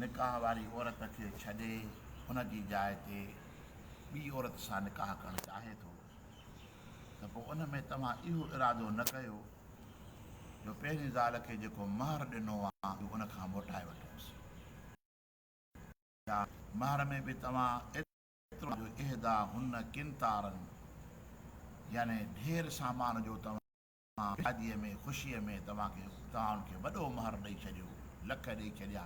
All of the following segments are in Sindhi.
نڪاح واري عورت کي ڇڏي ان جي جاء تي ٻي عورت سان نڪاح ڪرڻ چاهي ٿو ته پوء ان ۾ توهان اهو ارادو نه ڪيو جو پهرين زال کي جيڪو مهر ڏنو آهي ان کان موٽائي وٺوس يا مهر ۾ به توهان ايترو جو اهدا هن قنطارن يعني ڍير سامان جو توهان مان شاديء ۾ خوشيء ۾ توهان کي توهان کي وڏو مهر ڏئي ڇڏيو، لک ڏئي ڇڏيا.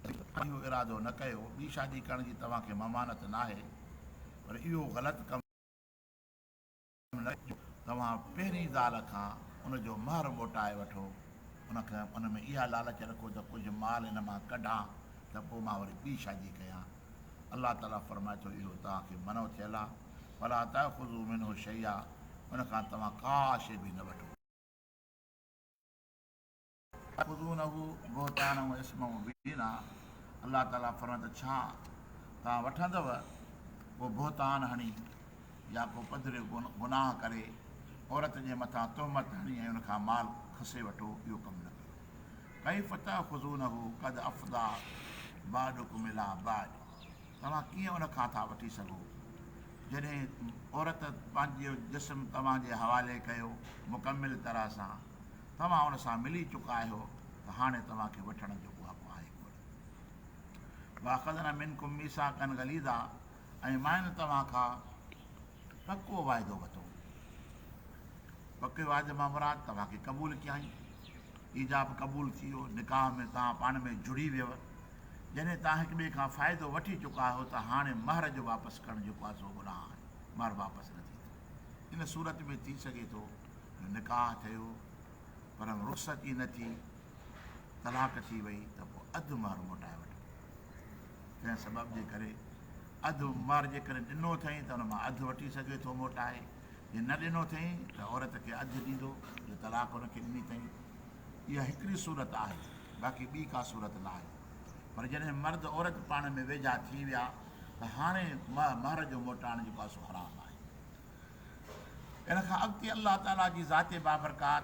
توهان اهو ارادو نه ڪيو، ٻي شادي ڪرڻ جي توهان کي ممانعت ناهي، پر اهو غلط ڪم نه ڪيو، جو توهان پهرين زال کان ان جو مهر موٽائي وٺو، ان کي ان ۾ اها لالچ رکو ته ڪجهه مال ان مان ڪڍان ته پوء مان وري ٻي شادي ڪيان. الله تعالي فرمائي ٿو اهو توهان کي منع ٿيل آهي فلا تاخذوا منه شيئا ان کان توهان ڪا شيء به نه وٺو. اتاخذونه بهتانا واسما مبينا الله تعالي فرمائي ٿو ڇا توهان وٺندؤ ڪو بهتان هڻي يا ڪو پڌريو گناهه ڪري عورت جي مٿان تهمت هڻي ۽ ان کان مال کسي وٺو اهو ڪم نه ڪريو ڪيف تاخذونه قد افضا بعضکم الي بعض توهان ڪيئن ان کان ٿا وٺي سگهو جڏهن عورت پنهنجو جسم توهان جي حوالي ڪيو مڪمل طرح سان توهان ان سان ملي چڪا آهيو ته هاڻي توهان کي وٺڻ جو ڪو حق آهي ڪونه واخذنا منڪم ميثاقا غليظا ۽ مان توهان کان پڪو واعدو وتو پڪي واعدي مان مراد توهان کي قبول ڪيائين ايجاب قبول ٿي ويو، نڪاح ۾ توهان پاڻ ۾ جڙي ويئو، جڏهن توهان هڪ ٻئي کان فائدو وٺي چڪا آهيو ته هاڻي مهر جو واپس ڪرڻ جيڪو آهي سو گناهه آهي، مهر واپس نه ٿيندو. ان صورت ۾ ٿي سگهي ٿو جو نڪاح ٿيو پر رخصت ئي نه ٿي، طلاق ٿي وئي ته پوء اڌ مهر موٽائي وٺبو. ڪنهن سبب جي ڪري اڌ مهر جيڪڏهن ڏنو اٿئي ته ان مان اڌ وٺي سگهي ٿو موٽائي. جي نه ڏنو اٿئين ته عورت کي اڌ ڏيندو جو طلاق ان کي ڏني اٿئين. اها هڪڙي صورت آهي باقي ٻي ڪا صورت نه آهي. پر جڏهن مرد عورت پاڻ ۾ ويجها ٿي ويا ته هاڻي مهر جو موٽائڻ جيڪو آهي سو حرام آهي. ان کان اڳتي الله تعاليٰ جي ذات بابرڪات.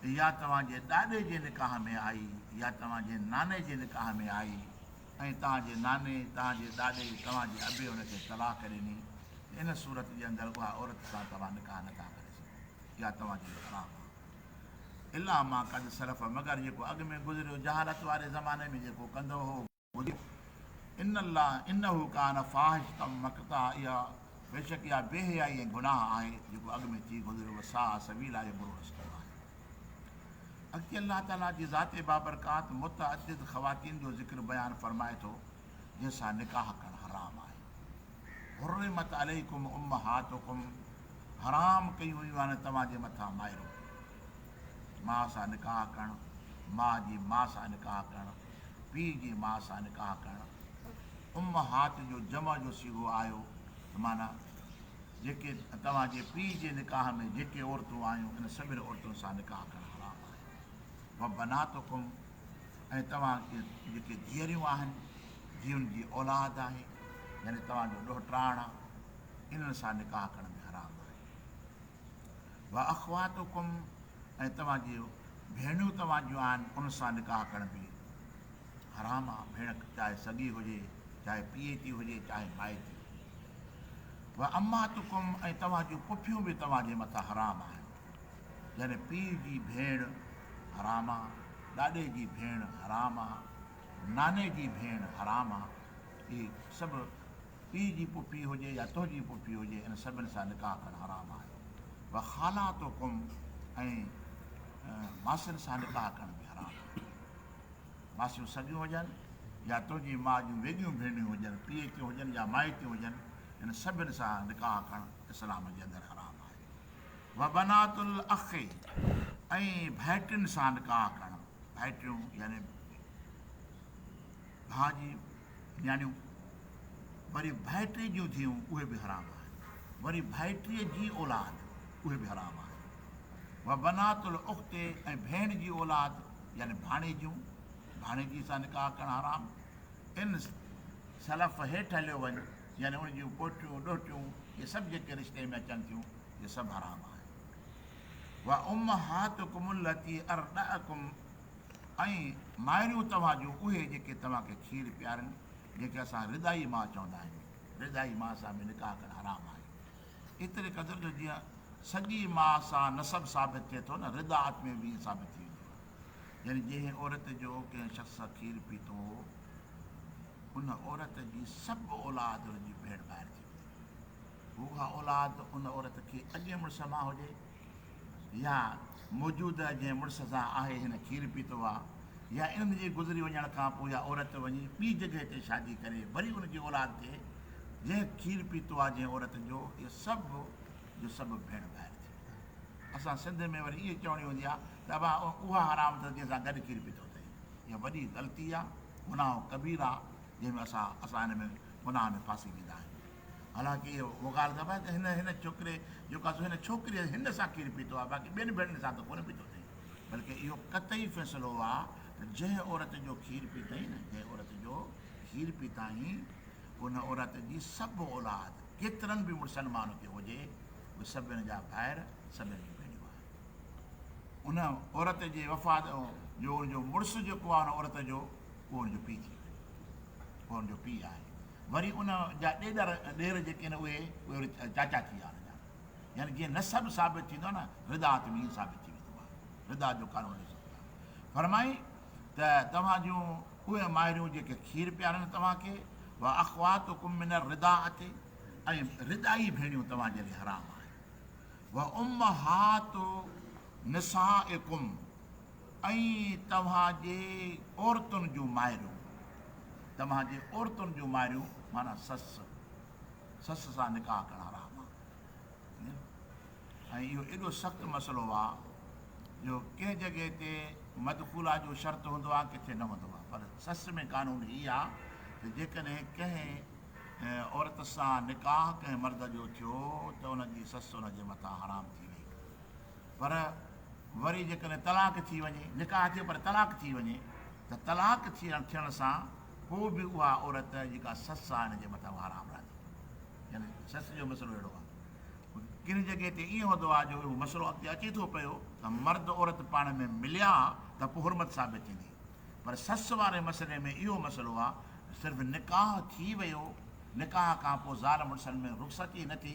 ته يا توهان جي ڏاڏي جي نڪاح ۾ آئي يا توهان جي ناني جي نڪاح ۾ آئي ۽ توهان جي ناني، توهان جي ڏاڏي، توهان جي ابي ان کي طلاق ڏني ته ان صورت جي اندر اها عورت سان توهان نڪاح نه ٿا ڪري سگهو يا توهان جي حرام آ. الا ما قد سلف مگر جيڪو اڳ ۾ گذريو جهالت واري زماني ۾ جيڪو ڪندو هو. موجب، ان الله انه ڪان فاحشة مقتا اها بيشڪ اها بي حيائي ۽ گناهه آهي جيڪو اڳ ۾ ٿي گذريو وساء سبيلا ۽ برو رستو آهي. اڳتي الله تعالي جي ذات بابرڪات متعدد خواتين جو ذڪر بيان فرمائي ٿو جن سان نڪاح ڪرڻ حرام آهي حرمت عليڪم امهاتڪم حرام ڪيون ويون آهن توهان جي مٿان مائرون ماء سان نڪاح ڪرڻ ماء جي ماء سان نڪاح ڪرڻ پيء جي ماء سان نڪاح ڪرڻ امهات جو جمع جو صيغو آيو ته معنيٰ جيڪي توهان جي پيء جي نڪاح ۾ جيڪي عورتون آيون انهن سڀني عورتن سان نڪاح ڪرڻ حرام آهي وبناتڪم ۽ توهان جي جيڪي ڌيئريون آهن جن جي اولاد آهي يعني توهان جو ڏوهٽاڻا انهن سان نڪاح ڪرڻ به حرام آهي. واخواتڪم ۽ توهان جي ڀيڻيون توهان جون آهن ان سان نڪاح ڪرڻ به حرام آهي ڀيڻ چاهي سڳي هجي چاهي پيئي ٿي هجي چاهي مائي ٿي هجي واماتڪم ۽ توهان جون پڦيون به توهان جي مٿان حرام آهن يعني پيء جي ڀيڻ حرام آ ڏاڏي جي ڀيڻ حرام آ ناني جي ڀيڻ حرام آ اهي سڀ پيء جي پڦي هجي يا تنهنجي پڦي هجي ان سڀن سان نڪاح ڪرڻ حرام آهي وخالاتڪم ۽ ماسين سان نڪاح ڪرڻ به حرام آهي ماسيون سڳيون هجن يا تنهنجي ماء جون ويڳيون ڀينريون هجن پيء ڪيون هجن يا مائٽيون هجن ان سڀن سان نڪاح ڪرڻ اسلام جي اندر حرام آهي وبنات الاخ ۽ ڀائٽين سان نڪاح ڪرڻ ڀائٽيون يعني ڀاء جي نياڻيون وري ڀائٽي جون ڌيئون اهي به حرام آهن وري ڀائٽي جي اولاد اهي به حرام آهن وبنات الاخت ۽ ڀيڻ جي اولاد يعني ڀاڻيجيون ڀاڻيجي سان نڪاح ڪرڻ حرام ان سلف هيٺ هليو وڃ يعني ان جون پوٽيون ڏوهٽيون اهي سڀ جيڪي رشتي ۾ اچن ٿيون اهي سڀ حرام آهن وامهاتڪم التي ارضعڪم ۽ مائريون توهان جون اهي جيڪي توهان کي کير پيارن، جيڪي اسان رضائي ماء چوندا آهيون، رضائي ماء سان به نڪاح ڪرڻ حرام آهي، ايتري قدر جو جيئن سڳي ماء سان نسب ثابت ٿئي ٿو نه رضاعت ۾ به ائين ثابت ٿي ويندو آهي، يعني جنهن عورت جو ڪنهن شخص سان کير پيتو هو، ان عورت جي سڀ اولاد ان جي ڀيڻ ڀائر ٿي ويندي، هو اها اولاد ان عورت کي اڳئين مڙس مان هجي يا موجوده جنهن مڙس سان آهي هن کير پيتو آ يا انهن جي گذري وڃڻ کان پوء اها عورت وڃي ٻي جڳهه تي شادي ڪري وري ان جي اولاد تي جنهن کير پيتو آ جنهن عورت جو اهي سڀ جو سڀ ڀيڻ ڀائر ٿي ويندا اسان سنڌ ۾ وري اهي چوڻي هوندي آ ته ابا اها حرام اٿس جنهن سان گڏ کير پيتو اٿئي اها وڏي غلطي آ گناهه ڪبير آ جنهن ۾ اسان اسان ان ۾ گناهه ۾ ڦاسي ويندا آهيون. حالانڪ اهي اهو ڳالهه ڪبا آهي ته هن هن ڇوڪري جو قصو هن ڇوڪريء هن سان کير پيتو آهي باقي ٻين ڀيڻين سان ته ڪونه پيتو اٿئي بلڪ اهو قطعي فيصلو آ ته جنهن عورت جو کير پيتائين نه جنهن عورت جو کير پيتائين ان عورت جي سڀ اولاد ڪيترن به مڙسن مان هڪي هجي اهي سڀن جا ڀائر سڀن جون ڀيڻيون آهن ان عورت جي وفات جو ان جو مڙس جيڪو آهي ان عورت جو اهو ان جو پيء ٿي ويو اهو ان جو پيء آهي وري ان جا ڏيڏر ڏير جيڪي آهن اهي اهي وري چاچا ٿي ويا ان جا يعني جيئن نسب ثابت ٿيندو آهي نه رضاعت ۾ ائين ثابت ٿي ويندو آهي رضاعت جو قانون ڏسو پيا فرمائي ته توهان جون اهي مائريون جيڪي کير پيارن توهان کي واخواتڪم من الرضاعت ۽ رضاعي ڀيڻيون توهان جي لاء حرام آهن وامهات نسائڪم اي توهان جي عورتن جون مائرون، توهان جي عورتن جون مائرون معنيٰ سس، سس سان نڪاح ڪرڻ حرام آ. ۽ اهو ايڏو سخت مسئلو آ جو ڪنهن جڳهه تي مدخولا جو شرط هوندو آ ڪٿي نه هوندو آ پر سس ۾ قانون هي آ ته جيڪڏهن ڪنهن عورت سان نڪاح ڪنهن مرد جو ٿيو ته ان جي سس ان جي مٿان حرام ٿي وئي. پر وري جيڪڏهن طلاق ٿي وڃي، نڪاح ٿئي پر طلاق ٿي وڃي ته طلاق ٿيڻ سان پوء به اها عورت جيڪا سس آهي ان جي مٿان اها حرام راضي آهي. يعني سس جو مسئلو اهڙو آهي. ڪن جڳهه تي ائين هوندو آهي جو اهو مسئلو اڳتي اچي ٿو پيو ته مرد عورت پاڻ ۾ مليا ته پوء حرمت ثابت ٿيندي پر سس واري مسئلي ۾ اهو مسئلو آهي صرف نڪاح ٿي ويو نڪاح کان پوء زال مڙسن ۾ رخصتي نه ٿي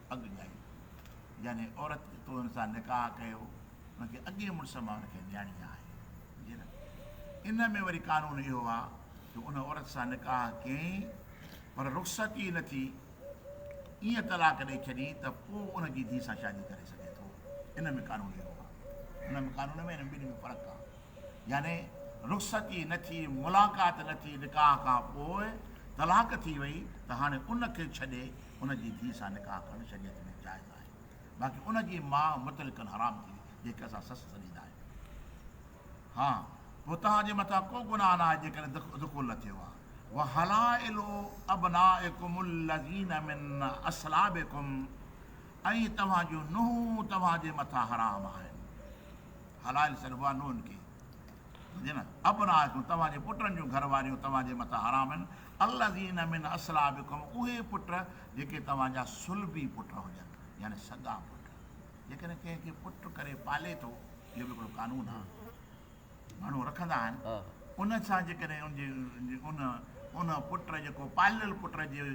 اڳ ڳائي، يعني عورت جو تو هن سان نڪاح ڪيو، هن کي اڳئين مڙس مان هن کي نياڻي آهي. جي نه؟ ان ۾ وري قانون اهو آ جو ان عورت سان نڪاح ڪيئين پر رخصت ئي نه ٿي، ايئن طلاق ڏئي ڇڏين ته پوء ان جي ڌيء سان شادي ڪري سگهي ٿو. ان ۾ قانون اهو آ. ان ۾ قانون ۾ انهن ٻنهي ۾ فرق آ. يعني رخصت ئي نه ٿي، ملاقات نه ٿي نڪاح کان پوء طلاق ٿي وئي ته هاڻي ان کي ڇڏي، ان جي ڌيء سان نڪاح ڪرڻ شريعت ۾ جائز آهي باقي ان جي ماء مطلقاً حرام ٿي جنهنکي اسان سس سڏيندا آهيون ها پوء توهان جي مٿان ڪو گناهه ناهي جيڪڏهن دخول نه ٿيو آهي وحلائل ابنائڪم الذين من اصلابڪم ۽ توهان جون نونهون توهان جي مٿان حرام آهن حلائل سڏبو آهي نونهن کي سمجهي نه ابنائڪم توهان جي پٽن جون گهر واريون توهان جي مٿان حرام آهن الذين من اصلابڪم اهي پٽ جيڪي توهان جا صلبي پٽ هجن يعني سڳا پٽ جيڪڏهن ڪنهن کي پٽ ڪري پالي ٿو اهو به هڪڙو قانون آهي ماڻهو رکندا آهن ان سان جيڪڏهن ان جي ان ان پٽ جيڪو پاليل پٽ جي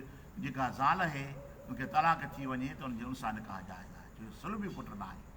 جيڪا زال اهي ان کي طلاق ٿي وڃي ته ان جي ان سان نڪاح جائز آهي جو صلبي پٽ نه آهي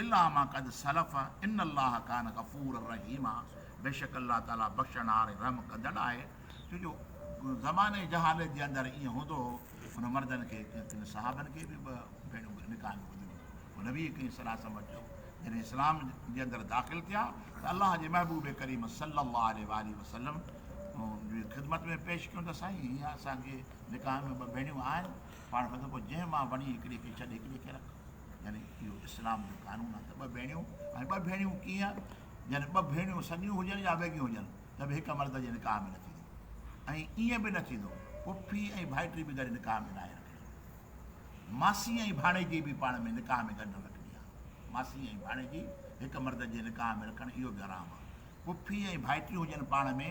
الا ما قد سلف ان الله ڪان غفورا رحيما بيشڪ الله تعالي بخشڻھار ۽ رحم ڪندڙ آھي ڇو جو زماني جهالت جي اندر ائين هوندو هو ان مردن کي ڪن صحابن کي به ٻه ڀيريون نڪاح ۾ ٻڌل هيون پوء نبي ڪريم صلي الله عليه وسلم وٽ چيو جڏهن اسلام جي اندر داخل ٿيا ته الله جي محبوب ڪريم صلي الله عليه واٰله وسلم جي خدمت ۾ پيش ڪيون ته سائين هيئن اسان کي نڪاح ۾ ٻه ڀيڻيون آهن پاڻ فتح پوء جنهن مان وڻي هڪڙي کي ڇڏ هڪڙي کي رک يعني اهو اسلام جو قانون آهي ته ٻه ڀيڻيون ۽ ٻه ڀيڻيون ڪيئن يعني ٻه ڀيڻيون سڳيون هجن يا ويڳيون هجن ته به هڪ مرد جي نڪاح ۾ نه ٿيندو ۽ ائين به نه ٿيندو پڦي ۽ ڀائٽي به گڏ نڪاح ۾ ناهي رکڻي ماسي ۽ ڀاڻيجي به پاڻ ۾ نڪاح ۾ گڏ نه رکڻي آهي ماسي ۽ ڀاڻيجي هڪ مرد جي نڪاح ۾ رکڻ اهو به حرام آهي پڦي ۽ ڀائٽيون هجن پاڻ ۾،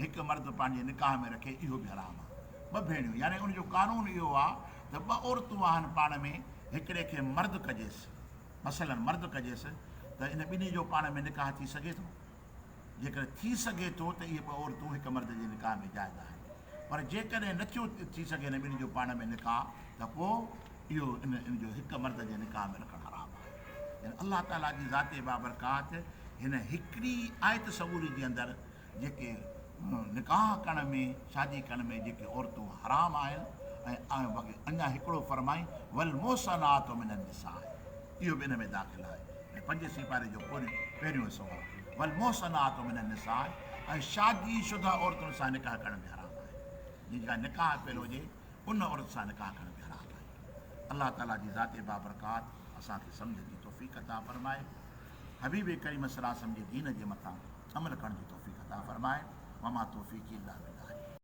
هڪ مرد پنهنجي نڪاح ۾ رکي اهو به حرام آ. ٻه ڀيڻيون يعني ان جو قانون اهو آ ته ٻه عورتون آهن پاڻ ۾ هڪڙي کي مرد ڪجيس مثلا مرد ڪجيس ته ان ٻنهي جو پاڻ ۾ نڪاح ٿي سگهي ٿو؟ جيڪڏهن ٿي سگهي ٿو ته اهي ٻه عورتون هڪ مرد جي نڪاح ۾ جائز آهن. پر جيڪڏهن نه ٿيو ٿي سگهي هن ٻنهي جو پاڻ ۾ نڪاح ته پوء اهو ان جو هڪ مرد جي نڪاح ۾ رکڻ حرام آهي. يعني الله تعاليٰ جي ذات بابرڪات هن هڪڙي آيت سڳوري جي اندر جيڪي نڪاح ڪرڻ ۾ شادي ڪرڻ ۾ جيڪي عورتون حرام آهن ۽ اڃا هڪڙو فرمائين والمحصنات من النساء. اهو به ان ۾ داخل آهي ۽ پنجين سيپاري جو پهريون حصو آهي، والمحصنات من النساء ۽ شادي شده عورتن سان نڪاح ڪرڻ به حرام آهي، جنهن جي ڪا نڪاح پيل هجي ان عورت سان نڪاح ڪرڻ به حرام آهي. الله تعاليٰ جي ذات بابرڪات اسان کي سمجهه جي توفيق عطا فرمائي. حبيب ڪريم صلعم جي دين جي مٿان عمل ڪرڻ جي توفيق عطا فرمائي. وما توفيقي الا بالله.